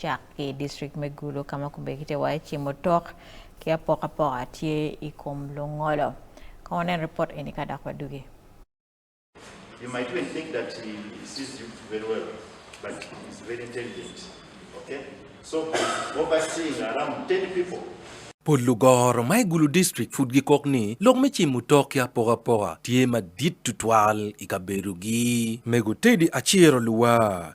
cak ki i district me Gulu ka ma kubekitte waye ci mutok ki apokapoka tye i kom lungolo. Kong wunen ripot eni ka dok wadugi. You might even think that he sees you very well but he's very intelligent ok so he's overseeing around ten people. Pol lugoro ma i Gulu district pud gikok ni lok me cimo tok ki apokapoka tye madit tutwal i kabedogi. Mego Teddy Aciro Luwar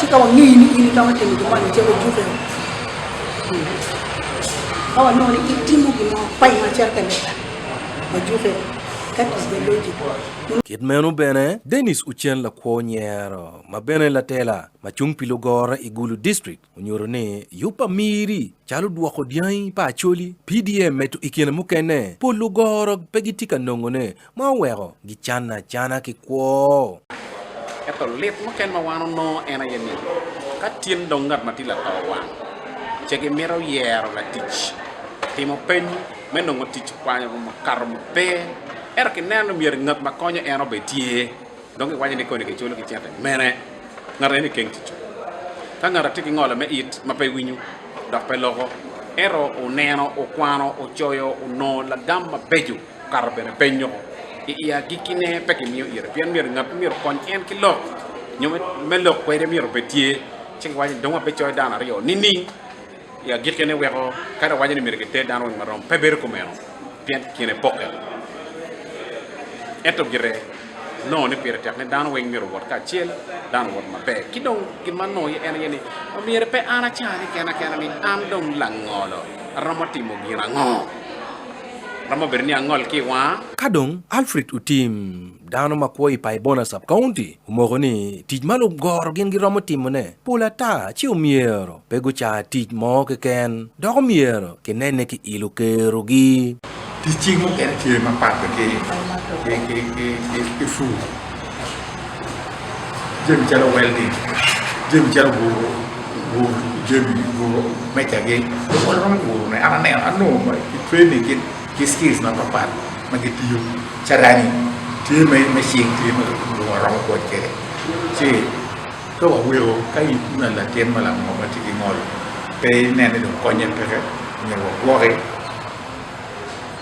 Ci ka wangeyo ni in itamo timo gin moni, cego jukke woko. Ka wanongo ni itimo gin mo paing acel ka leba, wajukke. That is the logic. Kit meno bene, Dennis Uchel lakwo nyero ma bene latela ma cung pi lugora i Gulu District onyuto ni yub pa miri calo dwoko dyangi pa Acholi, PDM meto i kine mukene pol lugora pe gitye ka nongone Ma oweko gicanna acana ki kwo. Ento lit muken ma wan onongo en aye ni, ka tin dong ngat ma tye lato owang, ce gimito yero latic, timo peny me nongo tic okwanyo mukato ma pe. Ento kineno ni myero ngat ma konyo en obed tye, dong giwaco ni koni kiculo ki cente mene. Ngat aye ni keng tic-cu. Ka ngat atye ki ngolo me it ma pe winyo dok pe loko, ento oneno, okwano, ocoyo, onongo lagam mabeco. Okato bene penyo, I i agikkine pe kimiyo ira, pien myero ngat ma myero okony en ki lok nyo me lok kwede myero obed tye. Ci giwaco ni, Dong wabicoyo dano aryo nining? I agikkine weko kadi wawaco ni myero giter dano weng marom, pe bedo kumeno, pien kine pokke. Ento gire nongo ni pire tek ni dano weng myero owot kacel, dano owot maber. Ki dong gin ma anongo iye en aye ni, myero pe an acanne kena kena ni, 'An dong langolo, aromo timo gin ango? Romo bedo ni angol ki i wanga. Ka dong Alfred Otim, dano ma kwo i Paibona Sub-County, omoko ni tic ma lugoro gin giromo timone pol ata ci omyero pe gucar tic mo keken, dok omyero kinenne ki ilo kerogi. Ticci mukene tye mapat ki pur. Jami calo weldi, jami calo guru, guru jami guru mecagi dong wan waromo gurune an aneno anongo i training kit ki skills mapat pat ma gitiyo carani tye me me cing tye ma guru waromo kony kwede ci ka waweko ka in ma latin ma lango ma tye ki ngol pe inen ni dong konye peke myero wagwoki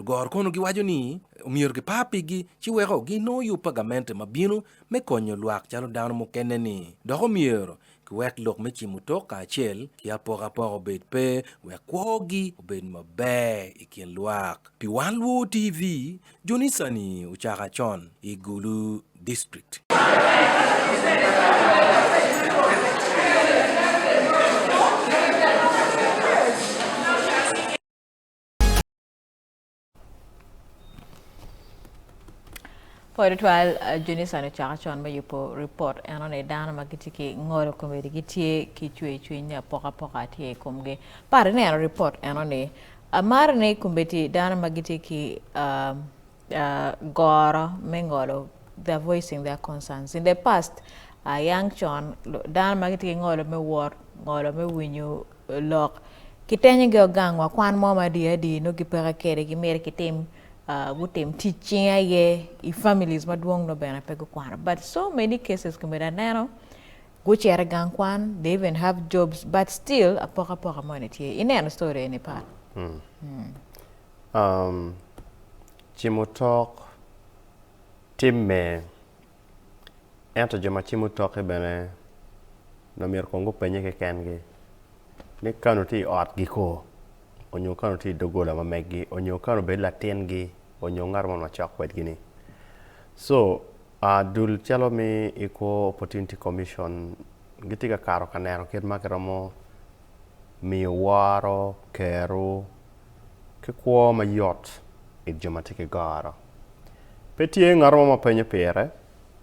Lugoro kono giwaco ni omyero gipar pigi ci weko ginongo yub pa gamente ma bino me konyo lwak calo dano mukene-ni. Dok omyero giwek lok me cimo tok kacel ki apokapoka obed pe wek kwogi obed maber i kin lwak. Pi wan luo TV, Jonica-ni ocako acon i Gulu district. Pol twal Junison ocako con me yubo ripot enone dano ma gitye ki ngolo komedi gitye ki cwercwiny ni apokapoka tye i komgi. Par ineno ripot enoni. Amaro ni komedi dano ma gitye ki uh, goro me ngolo they're voicing their concerns in the past yang con dano ma gitye ki ngolo me wot ngolo me winyo lok kitenyo gi gang wa kwan mo ma dye adye nongo gipeke kwede gimyero gitim gutim tic cing aye i families madwong nongo bene pe gukwano but so many cases komedi aneno gucito i gang kwan they even have jobs but still apoka poka moni tye ineno story eni pat. Cimo tok tim mer, ento jo ma cimo tokke bene omyero kong gupenye kekengi ni kani tye i otgi ko onyo kani tye i dogola ma megi onyo kani obed latingi onyo ngat mo ma wacok kwedgi ni co dul calo me equal opportunity commission gitye ka kato ka neno kit ma giromo miyo woro keru ki kwo ma yot i jo ma tye ki goro. Pe tye ngat mo ma penyo pire,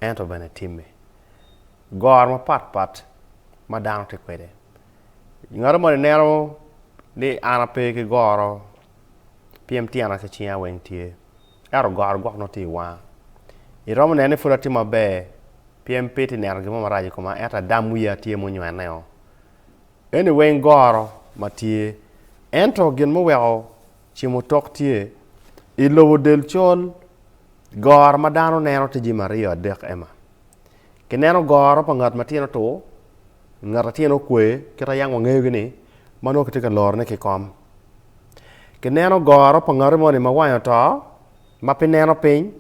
ento bene timme. Goro mapat pat ma dano tye kwede. Ngat moni neno ni an ape ki goro pien tyena ki cinga weng tye, ento goro gwok nongo tye i wanga. Iromo neno ni pud atye maber pien pe itye neno gin mo marac i koma ento adam wiya tye munywenneo. Eni weng goro ma tye. Ento gin muweko cimo tok tye, I lobo del col, goro ma dano neno tye jami aryo adek ema, Ki neno goro pa ngat ma tyene otur, ngat a tyene okwe kit a yang wangeyo gi ni ma nongo kitye ka loro ne ki kom. Ki neno goro pa ngati moni ma wange oto, ma pe neno piny,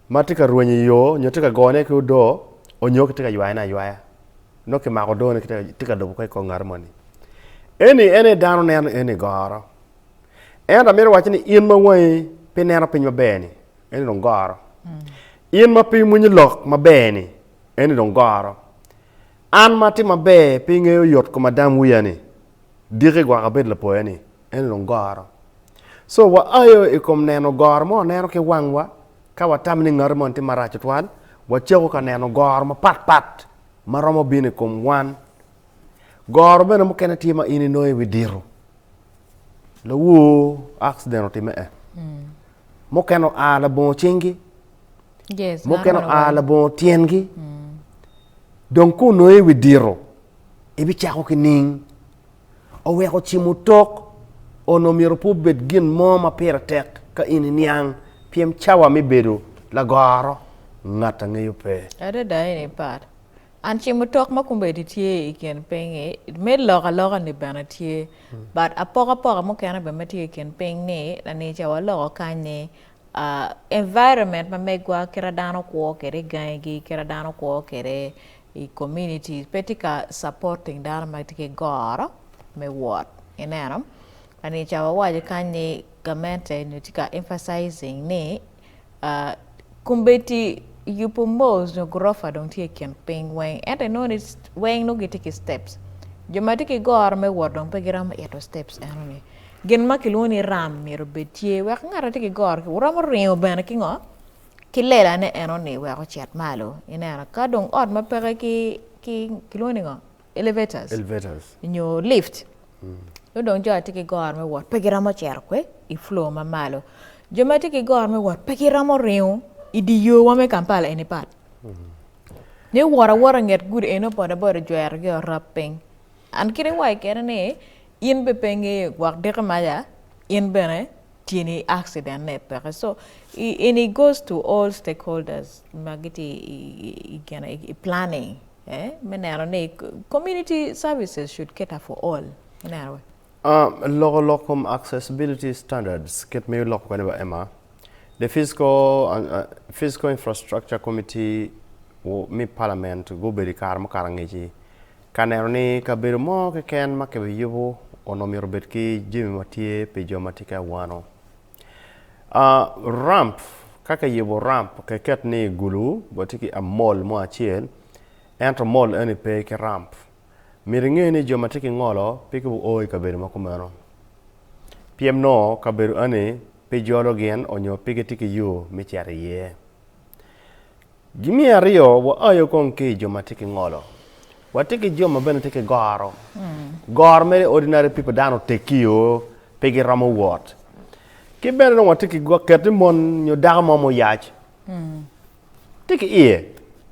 ma tye ka rwenyo i yo nyo tye ka gone ki odoo, onyo kitye ka ywayone aywaya. Nongo kimako odone tye ka lobo ka i kor ngati moni. Eni en aye dano neno eni goro. Ento amito wacci ni in ma wangi pe neno piny maber-ni, eni dong goro. In ma pe imwonyo lok maber-ni, eni dong goro. An ma atye maber pe ingeyo yot kom adam wiya-ni, diki gwok abedo lapoya-ni, eni dong goro. So wa aye i kom neno goro ma waneno ki wangwa, ka watamo ni ngati moni tye marac tutwal, wacako ka neno goro mapatpat ma romo bino i kom wan. Goro bene mukene tye ma in inongo iwi dito. Lawoo accident otimme e. Mm. Mukene oa labongo cingi. Yes, mukene oa labongo tyengi. Mm. Dong ku onongo iwi dito, ibicako ki ning. oweko cimo tok onongo myero pe obed gin mo ma pire tek ka in iniang pien cawa me bedo lagoro ngat angeyo pe. Adada en aye pat. And cimo tok ma kombeddi tye i kin piny-ngi, me lok aloka-ni bene tye. But apokapoka mukene bene ma tye i kin piny-ni, lani ca waloko kany-ni, ah, environment ma megwa, kite ma dano kwo kwede gangigi, kite ma dano kwo kwede i community pe tye ka supporting dano ma gitye ki goro me wot ineno eni ca wawaco kany ni gamente nyo tye ka emphasizing ni kombeddi yubu malls nyo gurofa dong tye i kin piny weng ento inongo ni weng nongo gitye ki steps jo ma tye ki goro me wot dong pe giromo ito steps eno ni gin ma kilwongo ni ram myero obed tye wek ngat ma tye ki goro ki wuromo ringo bene ki ngo ki lela ne eno ni wek ocit malo ineno ka dong ot ma peke ki ki kilwongo ni ngo elevators elevators nyo lift nongo dong jo atye ki goro me wot pe giromo cito kwe i floor ma malo jo ma tye ki goro me wot pe giromo ringo i di yo wa me Kampala eni pat ni wot awota inget gudi eno boda boda ojwero gi orab piny and kit iwaco kene ni in bene pe ingeyo gwok diki maca in bene tyeni accident ne peke so in it goes to all stakeholders ma gitye i gene i planning eh me neno ni community services should cater for all ineno wek Uh, loko lok kom accessibility standards kit ma iloko kwede ba Emma the physical uh, uh, physical infrastructure committee wo- me parliament gubedo i kare mukato angeci Ka neno ni kabedo mo keken ma kibiyubo onongo myero obed ki jami ma tye pi jo ma tye ki awano, ramp ka kiyubo ramp kiket ni gulu bene tye ki mall mo acel ento mall eni pe ki ramp myero inge ni jo ma tye ki ngolo pe guo i kabedo ma kumeno pien nongo kabedo eni pe jolo gin nyo pe gitye ki yo me cito iye. Gi me aryo, waayo kong ki i jo ma tye ki ngolo. Watye ki jo ma bene tye ki goro. Goro mere ordinary people, dano oteggi-o, pe giromo wot. Ki bene dong watye ki go, ket ni mon nyo dako mo muyac tye ki iye,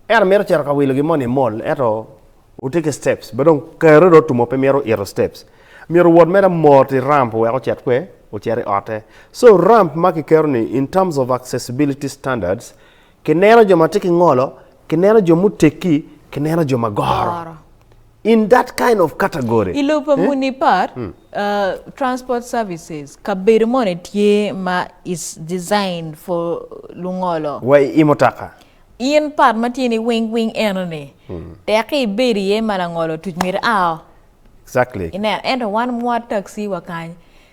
ento mito cito ka wilo gin moni i mall, ento otye ki steps, bene dong kare dong otumo pe mito ito steps, myero owot mere mot i ramp wek ocit kwe? Ocit i otte. So ramp ma kiketo-ni in terms of accessibility standards, Kineno jo ma tye ki ngolo, kineno jo muteggi, kineno jo ma goro. Goro. In that kind of category. I lobo pa muni part, uh, transport services, kabedo moni tye ma is designed for lungolo? Wa i i mutoka. In part ma tye ni wing wing eno ni, tekki ibed iye ma langolo otuc myero a o. Exactly. Ineno, ento wan mwa taxi wa kany,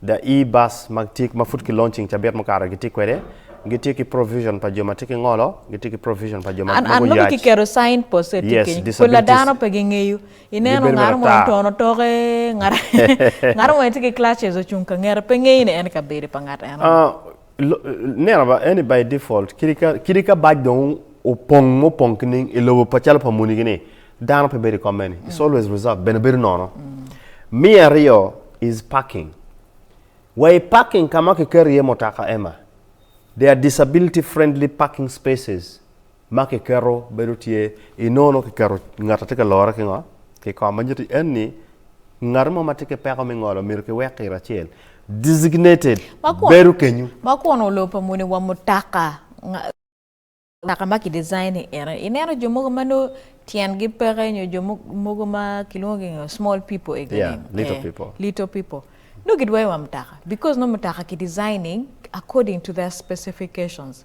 The E-Bus ma tye ma pud ki launching cabit mukato gitye kwede, gitye ki provision pa jo ma tye ki ngolo, gitye ki provision pa jo ma An, an mogo yac. kiketo sign post tye Yes, kenyo. Kun disabilities. ladano pe gingeyo. Ineno Gibedo ngat mo maratar. otono otoke, ngat ngat mo tye ki clutches ocung ka ngete, pe ngeyo ni en i kabedo pa ngat eno. Ah, Neno ba eni by default kidi ka kidi ka bac dong opong mo pong kining i lobo pa calo pa muni gini dano pe bedo i kom meni. It's always reserved bene bedo nono. Me aryo is parking. Wa i parking ka ma kiketo iye mutaka Emma. There are disability friendly parking spaces. ma kiketo bedo tye inono kiketo ngat atye ka lore ki ngo ki kom ma nyuto en ni ngat mo ma tye ki peko me ngolo myero ki wek kiro acel designated bedo kenyu. Ma kun olor pa muni wa mutaka mutaka ma ki design ni ene ineno jo mogo ma nongo tyen gi peke nyo jo mogo ma ki lwongo gi ngo small people ega ni yeah little people little people nongo ki dwoyo wa mutaka because nongo mutaka ki designing according to their specifications.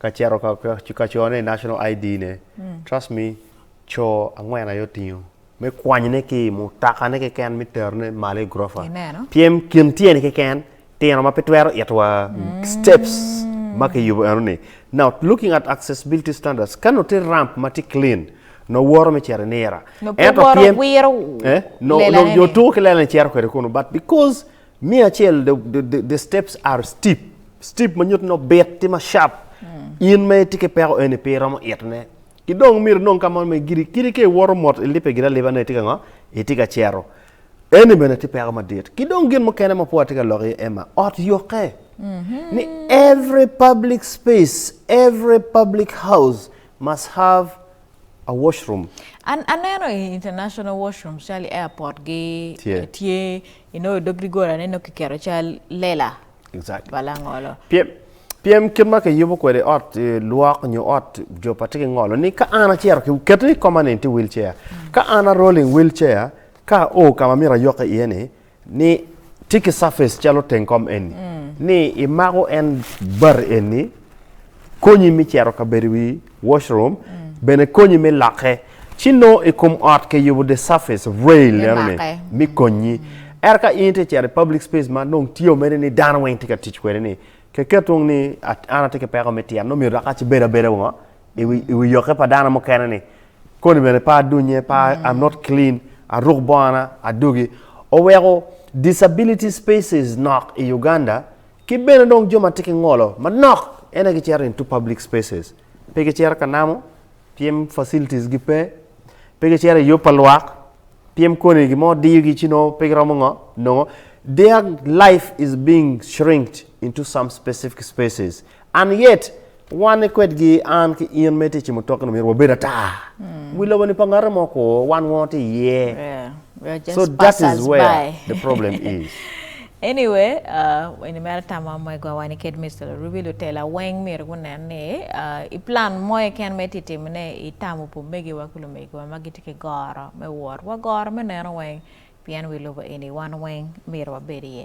Ka cito ka cone i national ID ne trust me co angwen aye otingo me kwanyone ki mutoka ne keken me terone malo i gurofa pien kin tyene keken tino ma pe twero ito wa steps ma ki yubo eno ni now looking at accessibility standards ka nongo tye ramp ma tye clean nongo woto me cito inira nongo pe woto wiro lelane ni nongo tuko ki lelane cito kwede kunu but because Me acel, the, the, the, the steps are steep. Steep ma nyuto ni obit, tye ma sharp. In ma itye ki peko eni pe iromo itone. Ki dong myero inong ka mo ma igiri. Kadi ka iwoto mot, ilibbe giri aliba ni itye ka ngo? Itye ka cito. Eni bene tye peko madit. Ki dong gin mukene ma pwod atye ka lok iye, Emma, ot yokke. Ni every public space, every public house must have a washroom. An aneno i international washrooms calo i airport gi Tye. tye I nongo i dog dogolane nongo kiketo cal lela pa langolo. Pyem kit ma kiyubo kwede ot eh, lwok nyo ot jop atye ki ngolo ni ka an acito keto ni koma ni tye wheelchair. Mm. Ka an a rolling wheelchair ka o ka ma myero ayok iye ni ni tye ki surface calo teng kom eni. Mm. Ni imako en bati eni konyi mi cero kabedo wi washroom, bene konyi me lokke. Ci nongo i kom ot kiyubo the surface of rail Me eno ni make. me konyi. Ento ka in itye cito i public space ma nongo tye omedde ni dano weng tye ka tic kwede ni keket wong ni at- an atye ki peko me tyen nongo myero dok aci bed abeda wongo i wi- i wi yokke pa dano mukene ni koni bene pe adunye pe a- I'm not clean aruk bongana adogi oweko disability spaces nok i Uganda Ki bene dong jo ma tye ki ngolo manok en aye gicito into public spaces. Pe gicito ka namo pien facilities gi pe. Pe gicito i yub pa lwak pien koni gin mo diyo gi ci nongo pe giromo ngo nongo. Their life is being shrinked into some specific spaces and yet Wan ni kwedgi, an ki in ma itye i cimutoki ni myero wabed ata. Wi lobo ni pa ngate mo ko, wan ngo tye iye. Yeah. So that is where the problem is. Anyway, uh, eni mere tama mwegwa wani ked Mr. Larubi lutela weng myero gunen ni uh, i plan mo eken ma iti timo ne itamo pu megiwa ku lumegiwa ma giti ki goro me wot wa goro me neno weng pien wi lobo eni wan weng myero wabed iye.